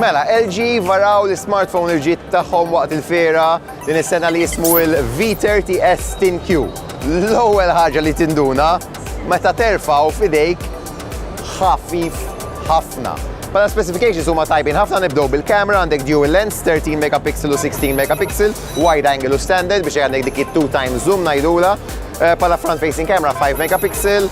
Mela, LG varaw l-smartphone il-ġit tagħhom waqt il-fera din is-sena li jismu il-V30S TinQ. L-ewwel ħaġa li tinduna meta terfaw f'idejk ħafif ħafna. Pala specifications huma tajbin ħafna nibdew bil-kamera għandek dual lens 13 megapixel u 16 megapixel, wide angle u standard biex għandek dik 2 times zoom ngħidula. Eh, pala front facing camera 5 megapixel,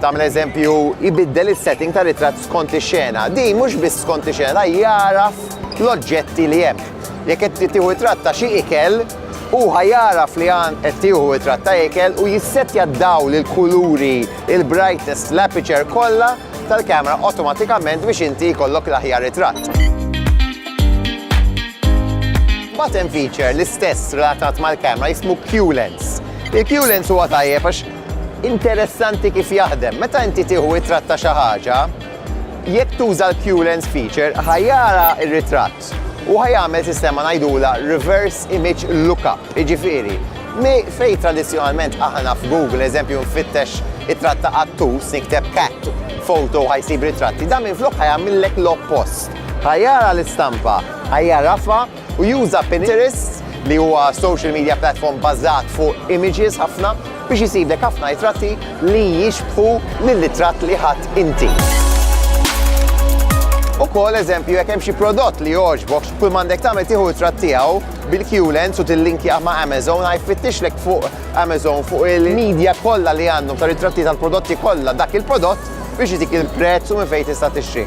Tagħmel eżempju, jbiddel is-setting ta' ritratt skont ix-xena. Din mhux biss skont ix-xena, jagħraf l-oġġetti li hemm. Jekk qed tieħu ritratt ta' xi ikel, hu ħa jagħraf li qed tieħu ritratt ta' ikel u jissettja d-dawl, il-kuluri, il-brightness, l-aperture kollha tal-kamera awtomatikament biex inti jkollok l-aħjar ritratt. Mbagħad hemm feature l-istess relatat mal-kamera jismu Q-Lens. Il-Q-Lens huwa tajjeb għax Interessanti kif jaħdem, meta inti tieħu ritratt ta' xi ħaġa, jekk tuża l-QLens feature ħa jara r-ritratt u ħa jagħmel sistema ngħidulha reverse image lookup, jiġifieri fejn tradizzjonalment aħna f'Google eżempju nfittex ritratt ta' qattus, nikteb cat photo ħa jsib ritratti, dan minflok ħa jagħmillek l-oppost. Ħa jara l-istampa, ħa jagħrafha, u juża Pinterest, li huwa social media platform bbażat fuq images ħafna, biex isiblek ħafna ritratti li jixbħu lir-ritratt li ħadt inti. Ukoll eżempju jekk hemm xi prodott li jogħġbok, kull m'għandek tagħmel tieħu ritratt tiegħu bil-Q-Lens u tillinkja ma' Amazon għaj fittixlek fuq Amazon fuq il-medja kollha li għandhom ta' ritratti tal-prodotti kollha dak il-prodott biex jitik il-prezz u minn fejn tista' tixtri.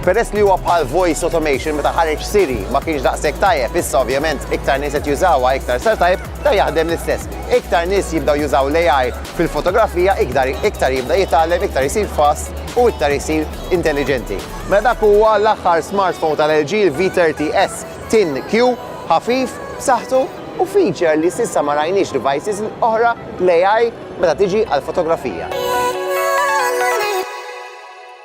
Peress li huwa bħal voice automation meta ħareġ Siri ma kienx daqshekk tajjeb, issa ovvjament iktar nies qed jużawha iktar sar tajjeb, dan jaħdem l-istess. Iktar nies jibdew jużaw l-AI fil-fotografija ikdar iktar jibda jitgħallem, iktar isir fast u iktar isir intelliġenti. Mela dak huwa l-aħħar smartphone tal-LG, il-V30s Thin Q, ħafif, b'saħħtu u feature li s'issa ma rajniex devices oħra, l-AI meta tiġi għall-fotografija.